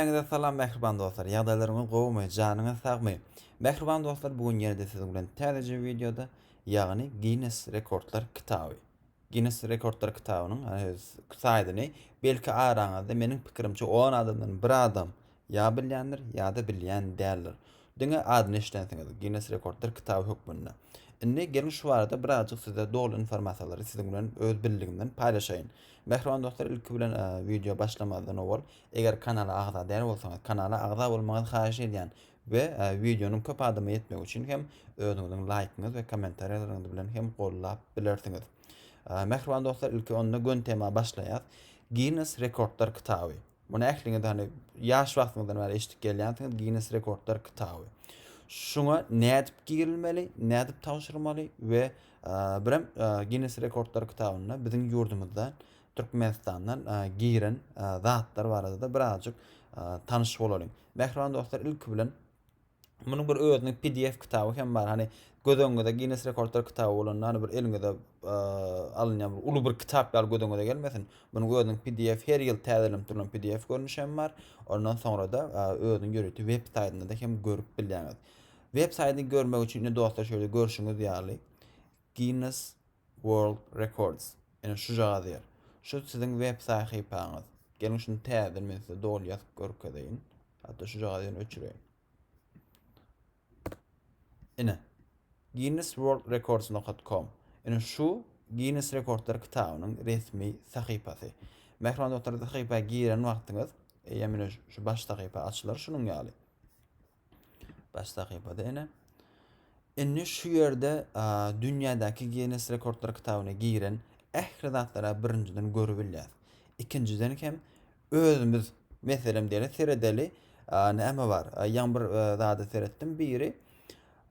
Hemmäňize salam mähriban dostlar ýagdaýlaryňyz gowumy janyňyz sagmy mähriban dostlar bu gün ýene-de siziň bilen täzeje wideoda ýagny Ginnes rekordlar kitaby Ginnes rekordlar kitabynyň saýdyny belki araňyzda meniň pikirimçe on adamdan bir adam ýa bilýändir ýa-da bilýän däldir diňe adyny eşidensiňiz Ginnes rekordlar kitaby hökmünde indi geliň şu barada birazjyk size doly informasiýalary siziň bilen öz bildigimden paýlaşaýyn mähriban dostlar ilki bilen wideo başlamazdan owal Eger kanala agza däl bolsaňyz kanala agza bolmaňyzy haýyş edýän we wideonyň köp adama ýetmegi üçin hem özüňiziň laýkyňyz we kommentariýalaryňyz bilen hem gollap bilersiňiz. Mähriban dostlar ilki onda gön tema başlaýas. Ginnes rekordlar kitaby. Muny ähliňiz hani ýaş wagtyňyzdan bäri eşidip gelýänsiňiz Ginnes rekordlar kitaby. Şuňa nädip girilmeli, nädip tabşyrmaly we birem Ginnes rekordlar kitabynda biziň ýurdumyzda Türkmenistandan giren zatlar barada-da birazjyk tanyş bolalyň. Mähriban dostlar, ilki bilen munuň bir özüniň pdf kitaby hem bar. Hani göz öňüňize Guinness rekordlar kitaby bolanda hani bir eliňize alynýan bir uly bir kitap ýaly göz öňüňize gelmesin. Munuň özüniň pdf her ýyl täzelenip durlan pdf görnüşi hem bar. Ondan soňra-da özüniň ýörite web saýtynda-da hem görüp bilýäňiz. Web saýtyny görmek üçin indi dostlar şeýle görşüňiz ýaly Guinness World Records ine şujagaz ýer. Şu siziň web sahypaňyz. Geliň şuny täzeden men size doly ýazyp görkezeýin. Hatda şujagazy ýene öçüreýin. Ine. Guinness World Records nokat com. Ine şu Guinness rekordlar kitabynyň resmi sahypasy. Mähriban dostlar sahypa giren wagtyňyz eýýäm ine şu baş sahypa açylar şunuň ýaly. Baş sahypada ene. Indi şu ýerde dünýädäki Guinness rekordlar kitabyna giren ähli zatlara birinjiden görüp bilýäris. Ikinjiden hem özümiz meselem diýeli seredeli näme bar? Ýaňy bir zada seretdim. Biri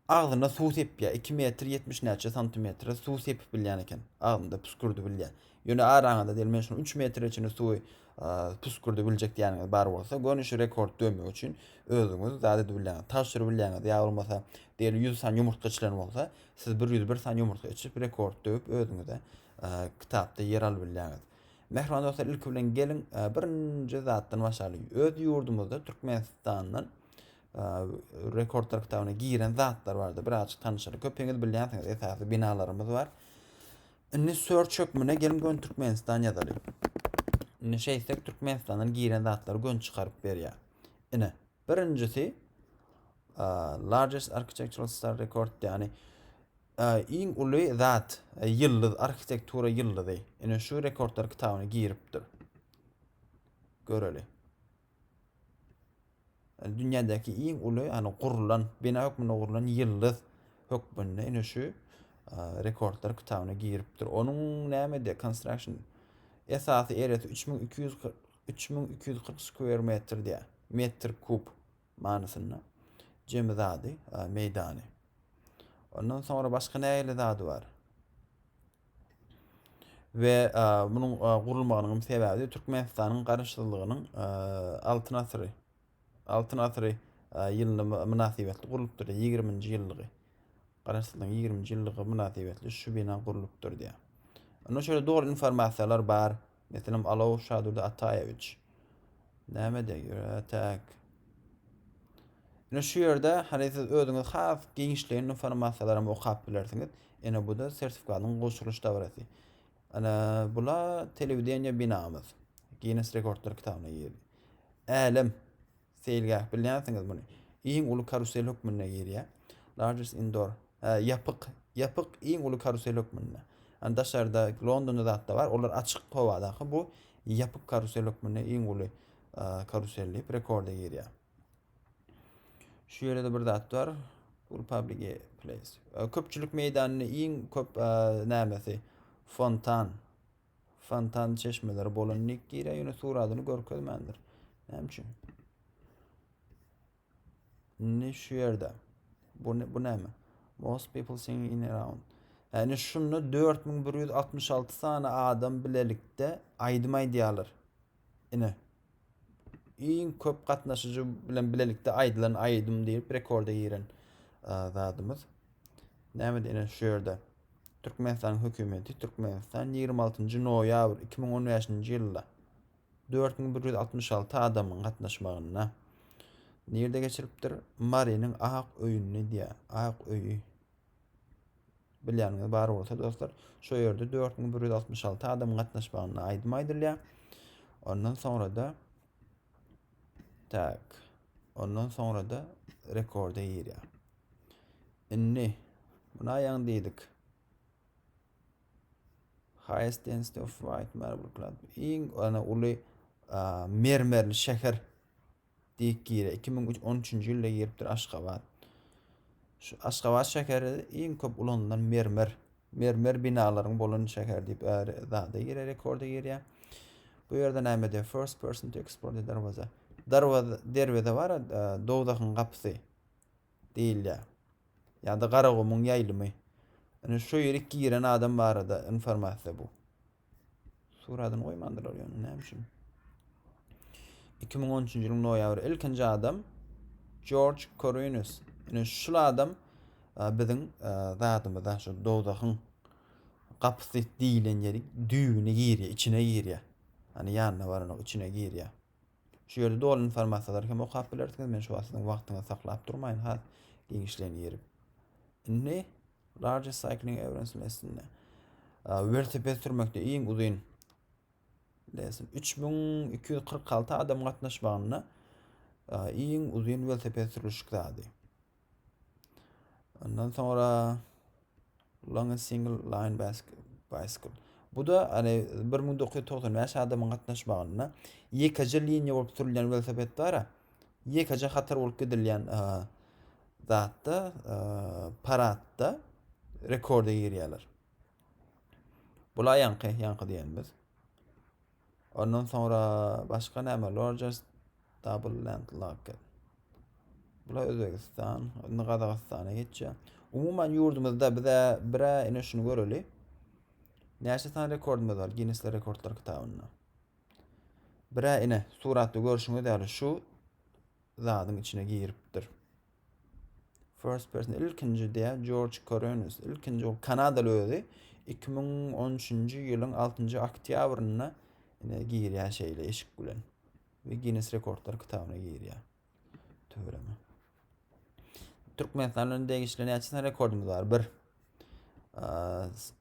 agzyna suw sepýär. 2 metr 70 näçe santimetre suw sepip bilýän eken. Agzynda püskürdi bilýär. Ýöne araňyzda diýeli men şuny üç metre içinde suwy püskürdi biljek diýýäniňiz bar bolsa, göni şu rekord döwmek üçin özüňiz zat edip bilýäňiz. Tabşyryp bilýäňiz ýa bolmasa diýeli ýüz sany ýumurtga içilen bolsa, siz bir ýüz bir sany ýumurtga içip rekord döwüp özüňize kitapda ýer alyp bilýäňiz. Mähriban dostlar, ilki bilen geliň birinji zatdan başlalyň. Öz ýurdumyzda Türkmenistandan rekordlar kitabyna giren zatlar bardy. Birazjyk tanyşalyň. Köpiňiz bilýänsiňiz, esasy binalarymyz bar. Indi search hökmüne gelin gön Türkmenistan ýazaly. Indi şeýtsek Türkmenistandan giren zatlary gön çykaryp berýär. Ine, birinjisi largest architectural star record ýani iň uly zat ýyldyz arhitektura ýyldyzy. Ine şu rekordlar kitabyna giripdir. Göreli. Yani dünyadaki iň uly yani gurlan, bina hökmünde gurlan yıldız hökmünde ine şu e, rekordlar kitabına giripdir. Onun näme de construction esasy eresi 3240 3240 square metr diye. Metr kub manysynda. Cemi zady, e, meydany. Ondan sonra başka näle zady var? we munuň gurulmagynyň sebäbi Türkmenistanyň garaşsyzlygynyň Altyn asyry Altyn asyry ýylyna mynasybetli gurlupdyr, 20-nji ýyllygy. Garaşsyzlygyň 20-nji ýyllygy mynasybetli şu bina gurlupdyr diýýär. Onda şöyle dogry informasiýalar bar. Meselem, Alow Şadurdy Ataýewiç. Näme diýip ýöräýtek? Ine şu ýerde hany siz özüňiz has giňişleýin informasiýalary hem okap bilersiňiz. Ine bu-da sertifikatyň gowşurylyş dabarasy. Ine bula telewideniýe binamyz. Ginnes rekordlar kitabyna girdi. Älem. Seýilgäh, bilýänsiňiz muny. Iň uly karusel hökmünde girýär. Largest indoor. Hä, ýapyk. Ýapyk iň uly karusel hökmünde. Ýani daşarda Londonda zat-da bar, olar açyk howadaky, bu ýapyk karusel hökmünde iň uly karusel diýip rekorda girýär. Şu ýerde-de bir zat bar. Ul public place. Köpçülik meýdanyny iň köp nämesi? Fontan. Fontan çeşmeleri bolan nik girýär, ýöne suradyny görkezmändir. Näme üçin? Ne şu ýerde. Bu ne, bu näme? Most people singing in around. Yani şunda 4166 sany adam bilelikde aýdym aýdýarlar. Ine, iň köp gatnaşyjy bilen bilelikde aýdylan aýdym diýip rekorda giren zadymyz. Näme diýen şu ýerde Türkmenistanyň hökümeti Türkmenistan 26 noýabr 2015 ýylda 4166 adamyň gatnaşmagynda nirde geçiripdir? Marynyň Ak öýünde diýýär. Ak öýi. Bilýäniňiz bar bolsa dostlar, şo ýerde 4166 adamyň gatnaşmagynda aýdym aýdylýar. Ondan soňra-da tak, ondan soňra-da rekorda girýär. Indi buna ýaň diýdik. Highest density of white marble club. Iň ana uly mermerli şäher diýk gire iki müň on üçünji ýylda giripdir aşgabat şu aşgabat şäheri iň köp ulanylan mermer mermer binalaryň bolan şäher diýip äri zada gire rekorda girýär bu ýerde näme diýär first person to explore the darwaza darwaza derweze bar e, dowzahyň gapysy diýilýär ýa-da garagumuň ýaýlymy indi şu ýerik giren adam barada informasiýa bu Suradyny goýmandylar ýöne näme üçin? 2013 ýylyň noýabry ilkinji adam George Korinus. Ine şul adam e, biziň e, zadymyza şu dowzahyň gapysy diýilen ýeri düýbüne girýär, içine girýär. Hani ýanyna baranok içine girýär. Şu ýerde doly informasiýalary hem okap bilersiňiz. Men şu wagt siziň wagtyňyzy saklap durmaýyn, has giňişleýin girip. Indi Largest Cycling Events listinde welosiped sürmekde iň uzyn lesin 3246 adam gatnaşmagynda iň uzyn welosiped sürüşik zady. Ondan sonra Long Single Line Bicycle. Bu da hani 1995 adamyň gatnaşmagynda ýekeje liniýa bolup sürülýän welosiped bar. Ýekeje hatar bolup gidilýän zatda, paradda rekorda girýärler. Bula ýaňky, ýaňky diýenimiz. Ondan soňra başga näme Rogers Double Land Locket. Bula Özbegistan, indi Gazagystana geçýär. Umuman ýurdumyzda bize birä ine şuny göreli. Näçe sany rekordumyz bar Ginnessler rekordlar kitabynda. Birä ine suratda görşüňiz ýaly şu zadyň içine giripdir. First person ilkinji diýä Jorj Korenis. Ilkinji ol Kanadaly özi 2013-nji ýylyň 6-njy oktýabrynda ine girýär şeýle eşik bilen. We Guinness rekordlar kitabyna girýär. Töwereme. Türkmenistanyň degişli näçe rekordumyz bar? 1.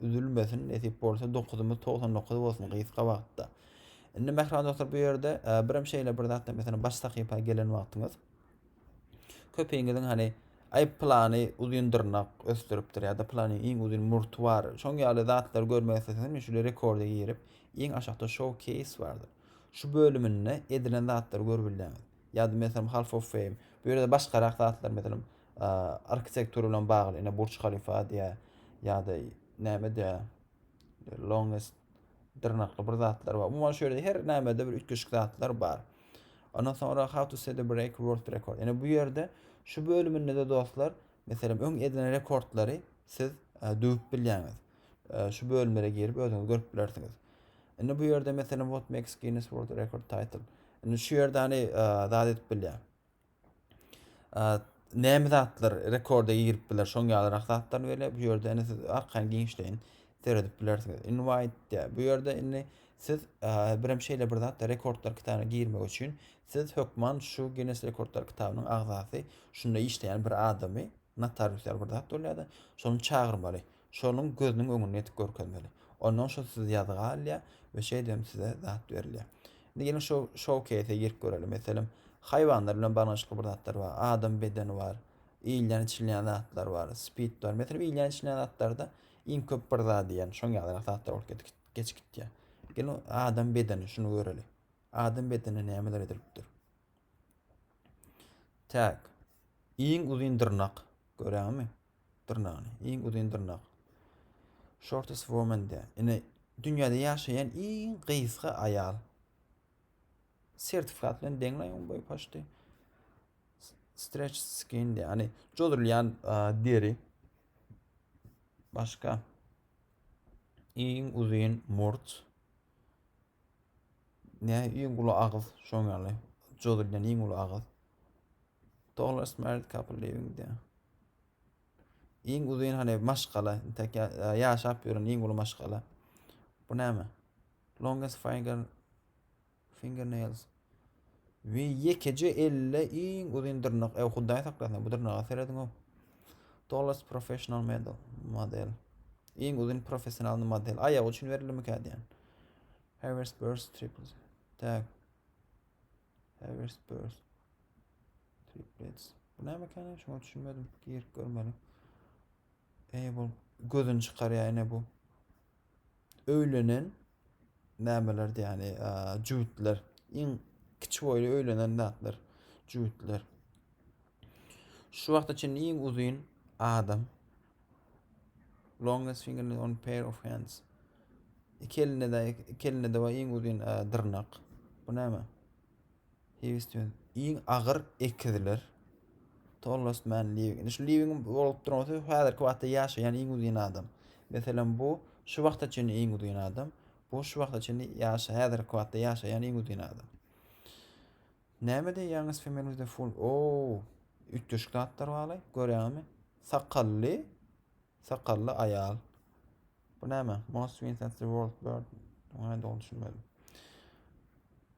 üzülmesin nesip bolsa dokuzymyz togsan dokuz bolsun gysga wagtda indi mähriban dostlar bu ýerde e, birem şeýle bir zatda mesela baş sahypa gelen wagtyňyz köpeýiňiziň hani ay plany uzun dyrnak ösdürüpdir ya da plany iň uzun murtu bar. Şoň ýaly zatlar görmek isteseňiz şule rekorda girip iň aşakda showcase bardyr. Şu bölüminde edilen zatlary görüp bilýäňiz. ýa-da meselem Half of Fame, bu ýerde başgarak zatlar meselem arhitektura bilen bagly, ine Burç Halifa diýä ýa-da näme diýä longest dyrnakly bir zatlar bar. Umuman şöyle her nämede bir üýtgeşik zatlar bar. Ondan sonra how to set a break world record. Yani bu yerde şu bölümünde de dostlar meselem öň edilen rekordlary siz e, döwüp bilýäňiz. E, şu bölümlere girip özüňiz görüp bilersiňiz. Indi bu yerde meselem what makes Guinness World Record title. Indi şu ýerde hany zat edip bilýär. Näme zatlar rekorda girip biler, şoň ýalyrak zatlar berýär. Bu ýerde indi siz arkaýyn giňişleýin seredip bilersiňiz. Invite diýär. Bu ýerde indi siz birem şeýle bir zatda rekordlar kitabyna girmek üçin siz hökman şu Guinness rekordlar kitabynyň agzasy, şunda işleýän bir adamy, notarius ýaly bir zat bolýar-da, şony çagyrmaly. şonuň gözüniň öňünde edip görkezmeli. Ondan soň siz ýazga alýar we şeýdibem size zat berilýär. Indi geliň şu şou-keýse girip göreli. Meselem, haýwanlar bilen baglanşykly bir zatlar bar. Adam bedeni bar. Iýilýän-içilýän zatlar bar. Spid bar. Meselem, iýilýän-içilýän zatlarda iň köp bir zat diýen şoň ýalyrak zatlar bolup gitgi geçip gitýär. Geliň, adam bedeni, şuny göreli. Adam bedenine nämeler edilipdir? Tag. Iň uzyn dyrnak. Görýäňizmi? dyrnagyny. Iň uzyn dyrnak. Shortest woman de. Ine dünýäde ýaşaýan iň gysga aýal. Sertifikat bilen deňläň on boýy paşdy. Stretch skin de. Hani jodurulýan deri. Başka. Iň uzyn murt. Ne iň uly agyz şoň ýaly. Jozulden iň uly agyz. Tallest married couple living there. Iň uzyn hany maşgala, tek ýaşap ýören iň uly maşgala. Bu näme? Longest finger fingernails. Ve yekeje elle iň uzyn dyrnak. Ew hudaý saklasyn, bu dyrnaga serediň ow. Tallest professional model. Model. Iň uzyn professional model. Aýagy üçin berilmik diýen. Harris Burst triples. Tak. Harris Burst. Triplets. Bu näme kene? Şoňa düşünmedim. Girip görmeli. Ey bu gözün çıkar yani bu. öýlenen nämelerdi ýani jübütler iň kiçi boýly öýlenen zatlar jübütler şu wagta çenli iň uzyn adam longest fingernail on pair of hands iki elinde de iki elinde de bar iň uzyn dyrnak bu näme Livingston iň agyr ekiziler. Tollos men Living. Indi şu Living bolup durmasy häzirki wagtda ýaşaýan iň uzyn adam. Meselem bu şu wagta çenli iň uzyn adam. Bu şu wagta çenli ýaş häzirki wagtda ýaşaýan iň uzyn adam. Näme diýýäňiz femenizde full? Oo, üýtgeşik zatlar barly. Görýäňizmi? Sakally, sakally aýal. Bu näme? Most Winston the World Bird. Ona dogry düşünmedim.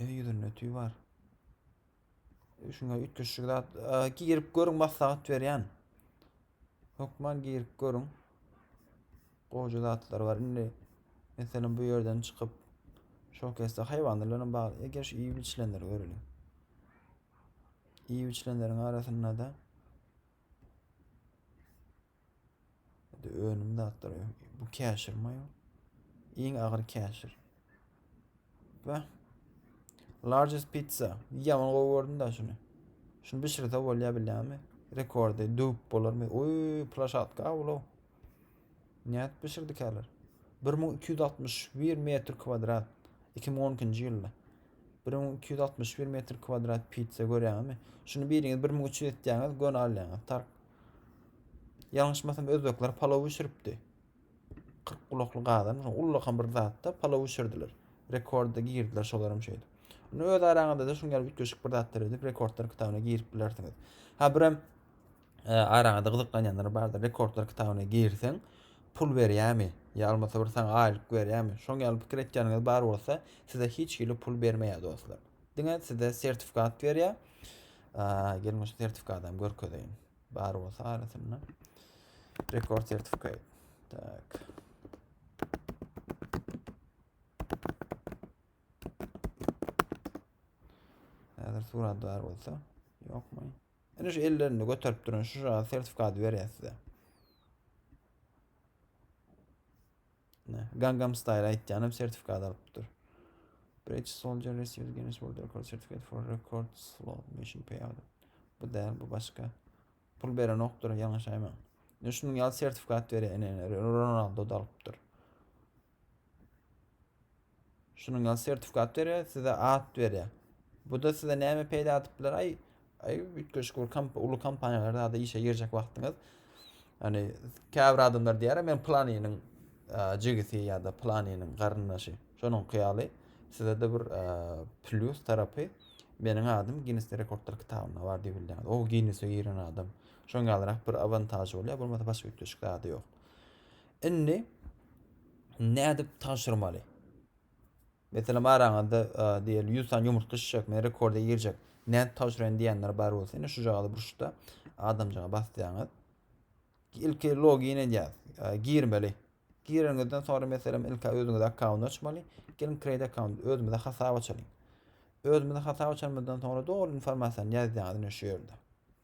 Öý ýüzünde tüý bar. Şuna ütleşik zat. Ee, girip görüň maslahat berýän. Hökman girip görüň. Goja zatlar bar. Indi meselem bu ýerden çykyp şol kesde haýwanlardan bar. Eger şu iýip içilenler göreliň. Iýip içilenleriň arasynda da Önüm zatlar. Bu käşir mi? Iň agyr käşir. Bä. Largest pizza. Yaman gowy gördüm da şunu. Şunu bişirse bolýar bilýärmi? Rekordy döwüp bolarmy? Oý, plaşatka ulu. Näet bişirdik häler? 1261 metr kwadrat. 2012-nji ýylda. 1261 metr kwadrat pizza görýärmi? Şunu biriňiz 1300 etýäňiz, göni alýaňyz. Tark Ýalňyşmasam özbekler palaw bişiripdi. Kyrk gulakly gazan, ullakan bir zatda palaw bişirdiler. Rekorda girdiler şolaram şeýdip. Ony öz araňyzda-da şuň ýaly üýtgeşik bir zatlar edip rekordlar kitabyna girip bilersiňiz. Ha birem e, araňyzda gyzyklanýanlar bardyr. Rekordlar kitabyna girseň, pul berýärmi? Ýa bolmasa bir saňa aýlyk berýärmi? Şoň ýaly pikir etýäniňiz bar bolsa, size hiç hili pul bermeýär dostlar. diňe size sertifikat berýär. Gelin şu sertifikatı hem görkezeyin. Bar olsa arasynda. Rekord sertifikat. Tak. Hazır surat bar olsa. Yok mu? Yani şu ellerini götürüp durun. Şu sertifikat veriyor size. Ne? Gangnam Style aýtýanam sertifikat alypdyr. British Soldier received Guinness World Record certificate for record slow motion payout. Bu däl, bu başga. Pul beren okdur, ýalňyş aýmaň. Ne şunuň ýaly sertifikat berýän Ronaldo da alypdyr. Şunuň ýaly sertifikat berýär, size at berýär. Bu-da size näme peýda atyp biler? Aý, aý üýtgeşik bir komp uly kompaniýalarda işe girjek wagtyňyz. Ýani käbir adamlar diýýär, men planynyň jigisi ýa-da planynyň garyndaşy. Şonuň ýaly size-de bir plýus tarapy meniň adym Ginness rekordlar kitabynda bar diýip bilýär. O Ginnesse giren adam. Şoň ýalyrak bir awantaž bolýar, bolmasa başga üýtgeşik zady ýok. Indi nädip tanşyrmaly? Meselem araňyzda diýeli 100 sany ýumurtga şişjek, men rekorda girjek. Nädip tanşyraýyn diýenler bar bolsa, indi şu jagada burçda adamjyga basýaňyz. Ilki login edýäs, girmeli. Gireniňizden sonra meselem ilki özüňize akkaunt açmaly. Gelin create account özümize hasap açalyň. Özümize hasap açanymyzdan sonra doly informasiýany ýazýaňyz şu ýerde.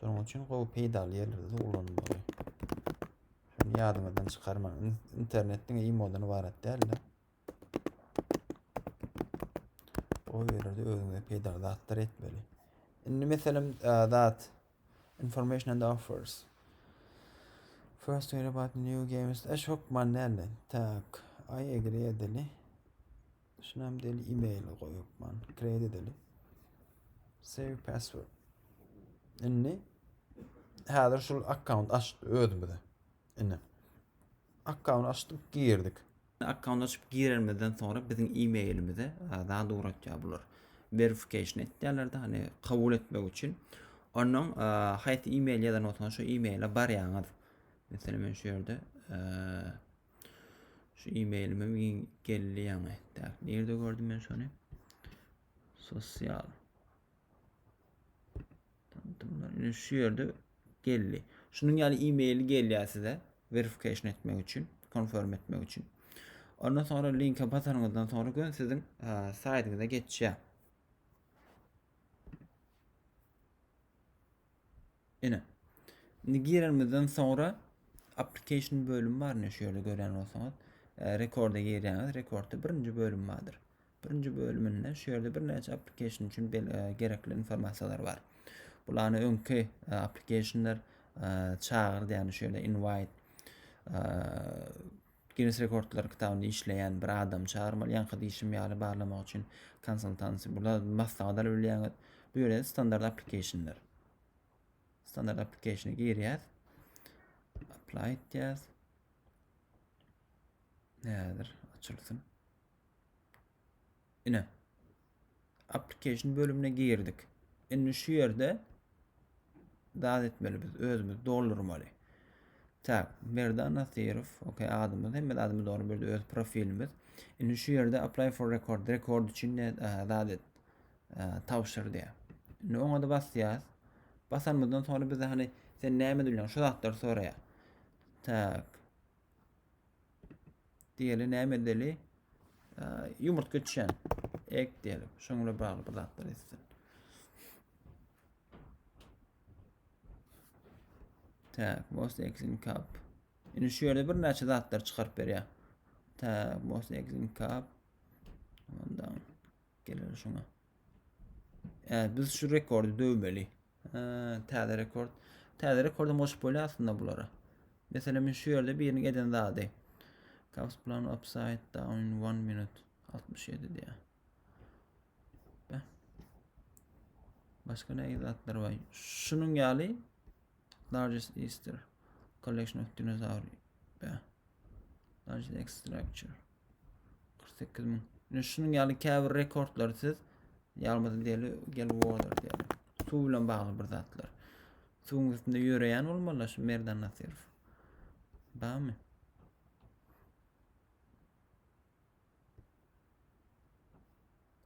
Şonuň üçin gowy peýdaly ýerlerde ulanmaly. Şunu ýadyňyzdan çykarmaň. Internet diňe imodan ibarat däldi. O ýerde özüňe peýdaly zatlar etmeli. Indi meselem zat information and offers. First hear about new games. Eş hokman däldi. Tak. I agree edeli. Şunem deli email goýupman. Create edeli. Save password. Indi häzir şul akkaunt açdy özümize. Indi akkaunt açdyk, girdik. Akkaunt açyp girenimizden sonra biziň emailimize zat ugratýar bular. Verification etýärler-de, hani kabul etmek üçin. Ondan haýsy email ýazan bolsaňyz şu emaile barýaňyz. Meselem men şu ýerde Şu e-mailime giň geldi ýaňy. Tak, nirde gördüm men şony? Sosial. Tanıtımlar. Ine şu ýerde geldi. Şunuň ýaly e-mail gelýär size verification etmek üçin, confirm etmek üçin. Ondan sonra linke basanyňyzdan sonra gön siziň saýtyňyza geçýär. Ine. Indi girenimizden soňra application bölümi bar ne şu ýerde görýän bolsaňyz. E, rekorda girýäňiz. Rekordda birinji bölüm bardyr. Birinji bölüminde şu ýerde birnäçe application üçin e, gerekli informasiýalar bar. Bulany öňki e, applicationlar e, çagyr diýýän şu ýerde invite e, Ginnes rekordlar kitabynda işleýän bir adamy çagyrmaly, ýaňky diýşim ýaly barlamak üçin konsultansiýa, bula maslahat alyp bilýäňiz. Bu ýere standart application-ler. Standart application-e girýäs. Apply etýäs. Häzir açylsyn. Ine. Application bölümine girdik. Indi şu ýerde zat etmeli biz özümiz doldurmaly. Tak, Merdan Nasirov, OK adymyz, hemme adymy dogry berdi öz profilimiz. Indi şu ýerde apply for record, rekord üçin ne zat et, tabşyr diýär. Indi oňa da basýas. Basanymyzdan soňra bize hani sen näme bilýän şu zatlar soraýar. Tak. Diýeli näme edeli? Ýumurtga içen. Ek diýeli. Şoň bilen bagly bir zatlar etsin. Tak, most exin kap. Indi şu ýerde bir näçe zatlar çykaryp berýär. Tak, most exin kap. Ondan gelir şuna. Ee, biz şu rekordu dövmeli. Täze rekord. Täze rekordum goşup bolýar aslynda bulara. Meselem men şu ýerde biriniň eden zady. Kaps plan upside down in 1 minute 67 diýär. Başka ne zatlar var? Şunun ýaly largest Easter collection of dinosaur. Largest X structure. 48 min. Ine şunuň ýaly käbir rekordlary siz ýalmazyn deli gel water diýýär. Suw bilen bagly bir zatlar. Suwuň üstünde ýöreýän bolmaly şu Merdan Nasirow. Bamy?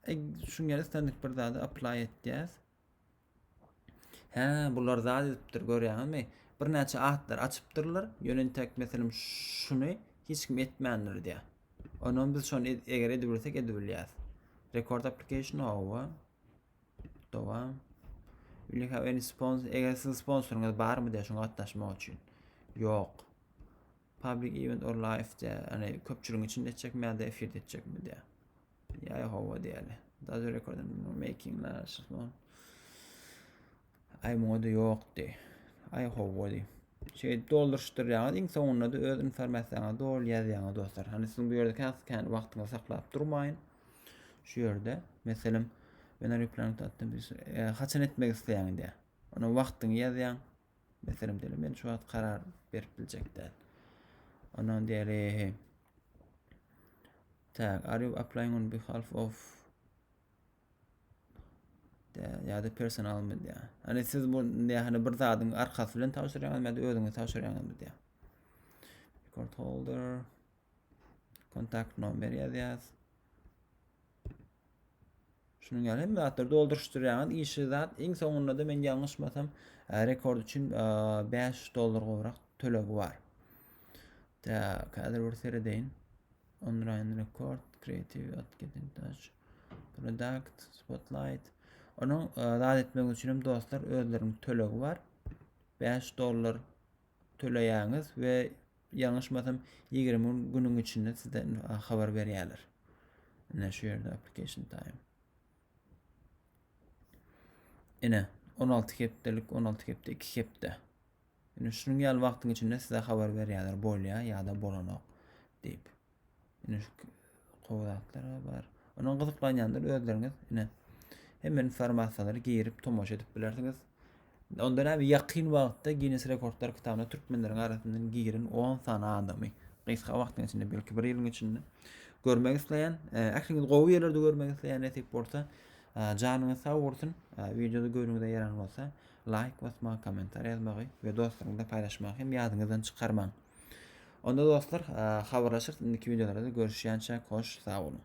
E, şuň ýaly istendik bir zady apply etýäs. Hä, bular zat edipdir, görýäňizmi? Birnäçe atlar açypdyrlar, ýöne intäk meselem şuny hiç kim etmändir diýýär. Onam biz şony eger edibilsek edibilýäs. Record application hawa. Dowam. Will you have any sponsor? Eger siziň sponsoryňyz barmy diýär şoňa gatnaşmak üçin. Ýok. Public event or live diýär. Ýani köpçüligiň içinde etjekmi ýa-da efirde etjekmi diýär. Ýaý hawa diýeli. Dazu rekordum making la şyhman. Ay muňa da ýokdy. Ay hawa diý. Şey dolduruşdurýaňyz iň soňunda da öz informasiýaňyzy dol ýazýaňyz dostlar. Hani siziň bu ýerde kän kän wagtyňyzy saklap durmaýyn. Şu ýerde meselem ben replantatdan bir e, haçan etmek isleýäň diýär. Ona wagtyňy ýazýaň, Meselem diýeli, men şu wagt karar berip biljek däl. Ondan diýeli, tak, are you applying on behalf of ya da personal mı diýä. Hani siz bu diýä, hani bir zadyň arkasy bilen tabşyrýaňyz, ýa-da özüňiz tabşyrýaňyzmy diýä. Record holder, Kontakt nomer ýazýas. Şunuň ýaly hemme zatlary dolduryşdyrýaňyz. Işi zat iň soňunda da men ýalňyşmasam, rekord üçin 5 dollar gowrak tölegi bar. Tak, häzir bir seredeýin. Online record, creative, getting touch, product, spotlight. Onuň zat etmek üçin hem dostlar özleriniň tölegi bar. 5 dollar töleýäňiz we ýalňyşmasam ýigrimi günüň içinde sizde habar berýärler ine şu ýerde application time ine on alty hepdelik on alty hepde iki hepde ine şunuň ýaly wagtyň içinde size habar berýärler bolýar ýa-da bolanok diýip Ine şu gowy zatlar bar. Onuň gyzyklanýanlar özleriňiz ine hem informasiýalary girip tomaşa edip bilersiňiz. Onda näme ýakyn wagtda Guinness rekordlar kitabyna türkmenleriň arasyndan giren 10 sany adamy gysga wagtyň içinde belki bir ýylyň içinde görmek isleýän. E, ähliňiz gowy ýerlerde görmek isleýän nesip bolsa e, janyňyz sag bolsun. E, Wideoda göwnüňize ýaran bolsa laýk basmagy, kommentariýa ýazmagy we dostlaryňyzda paýlaşmagy hem ýadyňyzdan çykarmaň. Onda dostlar habarlaşyrys indiki wideolarda görüşýänçäk hoş sag boluň.